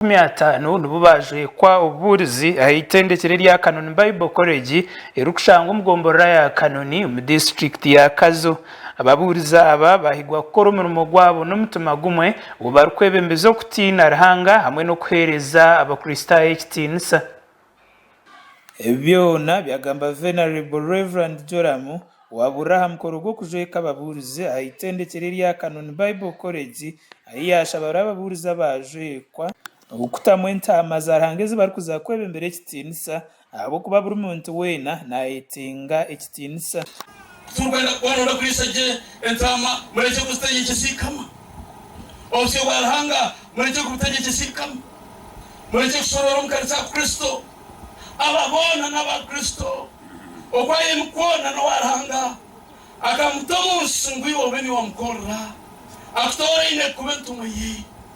makumi ataano nibo baajwekwa obubuurizi aha itendekero erya Kanoni Bible College erikushangwa omu gomborora ya Kanoni omu disiturikiti ya Kazo. Ababuurizi aba baahigwa kukora omurimo gwabo n'omutima gumwe obu barikwebembeza okutiina Ruhanga hamwe n'okuheereza Abakristaayo ekitiinisa. Ebi byona byagamba Venerable Rev. Joram Waburira aha mukoro gw'okujweka ababuurizi aha Itendekero erya Canon Bible College ahi yaashabire ababuurizi abaajwekwa okutamu entaama za Ruhanga ezi barikuza kwebembera ekitiinisa ahabw'okuba buri muntu weena naayetenga ekitiinisa. Ku turikwenda kuba nooda kuriisa gye entaama, murekye kuzitegyekye ziikama. Obusyo bwa Ruhanga murekye kubutegyekye ziikama. Murekye kushoroora omu kanisa ya Kristo. Aba boona n'aba Kristo. Oku ayeemi kwona n'owa Ruhanga. Akamuta omu nsi ngu iwe obe niwe omukorera. Akutooraine kuba entumwa ye.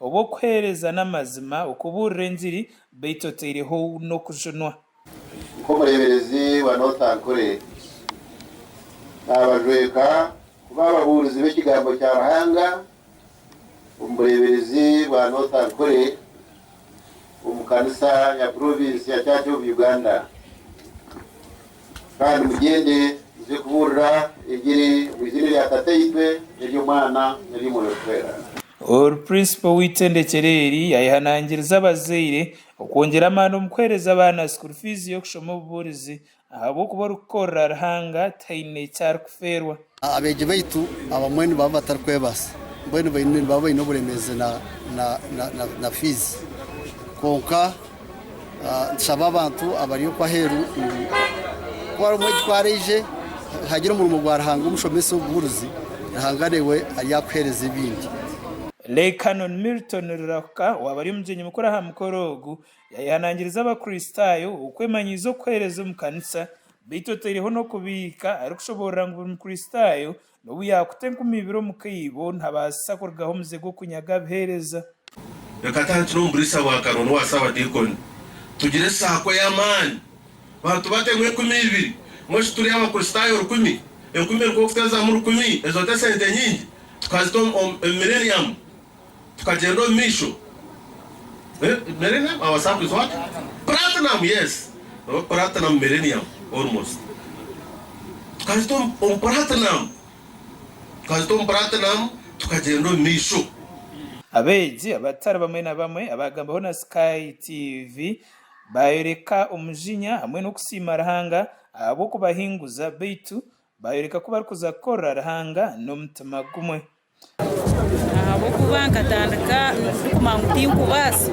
Obu okuheereza n'amazima, okubuurira engiri, beitu oteireho n'okujunwa. Nk'omureeberezi wa North Ankole, naabajweka kuba ababuurizi b'Ekigambo kya Ruhanga omu bureeberezi bwa North Ankole omu kanisa ya Provinsi ya Church of Uganda. Kandi mugyende muze kubuurira engiri omu iziina erya Tataitwe, n'ery'Omwana, n'ery'Omwoyo Orikwera. Oru Principal w'itendekero eri yayehanangiriza abazaire okwongyera amaani omu kuhereza abaana school fees y'okushoma obubuurizi ahabw'okuba orikukorera Ruhanga taine eki arikufeerwa. Abeegi baitu abamwe nibaba batarikwebaasa mbwenu nibaba baine oburemeezi na fiizi kwonka. Nitushaba abantu abari okwo aheeru ngu ku harimu ekitwara aije, nihaagira omurimo gwa Ruhanga omushomesa obubuurizi, Ruhanga naiwe aryakuheereza ebindi. Lay Canon Milton Rurahuka owaaba ari omugyenyi mukuru aha mukoro ogu, yaayehanangiriza Abakristaayo okwemanyiiza okuheereza omu kanisa beitu otaireho n'okubiika arikushoboorora ngu buri Mukristaayo N'obu yaakuta enkumi ibiri omu kaibo, ntabaasisa kurugaho omuze gw'okunyaga abuheereza. Reka tantire omu buriisa bwa Karooli owa Saabadiikoni, tugire esaako ey'amaani. Bantu bate ngu enkumi ibiri? Ngu shi turi Abakristaayo rukumi? Enkumi eri nk'okutezamu rukumi, ezo ti esente nyingi? Tukazita omu Mileniamu? Tukagyenda omu maisho. Millennium our sun is what? Platinum yes oba platinum millennium almost tukahitsya omu platinum tukahitsya omu platinum tukagyenda omu maisho. Abeegi abatari bamwe na bamwe abaagambaho na Sky TV baayoreka omujinya hamwe n'okusiima Ruhanga ahabw'okubahinguza beitu baayoreka ku barikuza kukorera Ruhanga n'omutima gumwe. Ahabw'okuba nkatandika ndikumanya ngu tinkubaasa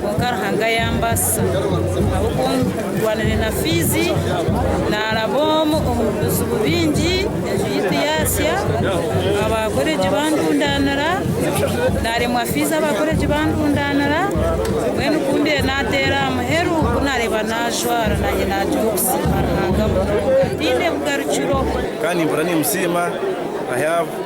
kwonka Ruhanga yambaasisa ahabw'okuba ndwanire na fiizi, naaraba omu bizibu bingi, enju yaitu yaashya, abaakoreegi bandundaanira, naaremwa fiizi abaakoreegi bandundaanira, mbwenu ku ndiyo naateera aha muheru ku naareeba naajwara naanye naagira obusiimo Ruhanga munonga, tiine bugarukiro. Kandi mpora nimusiima.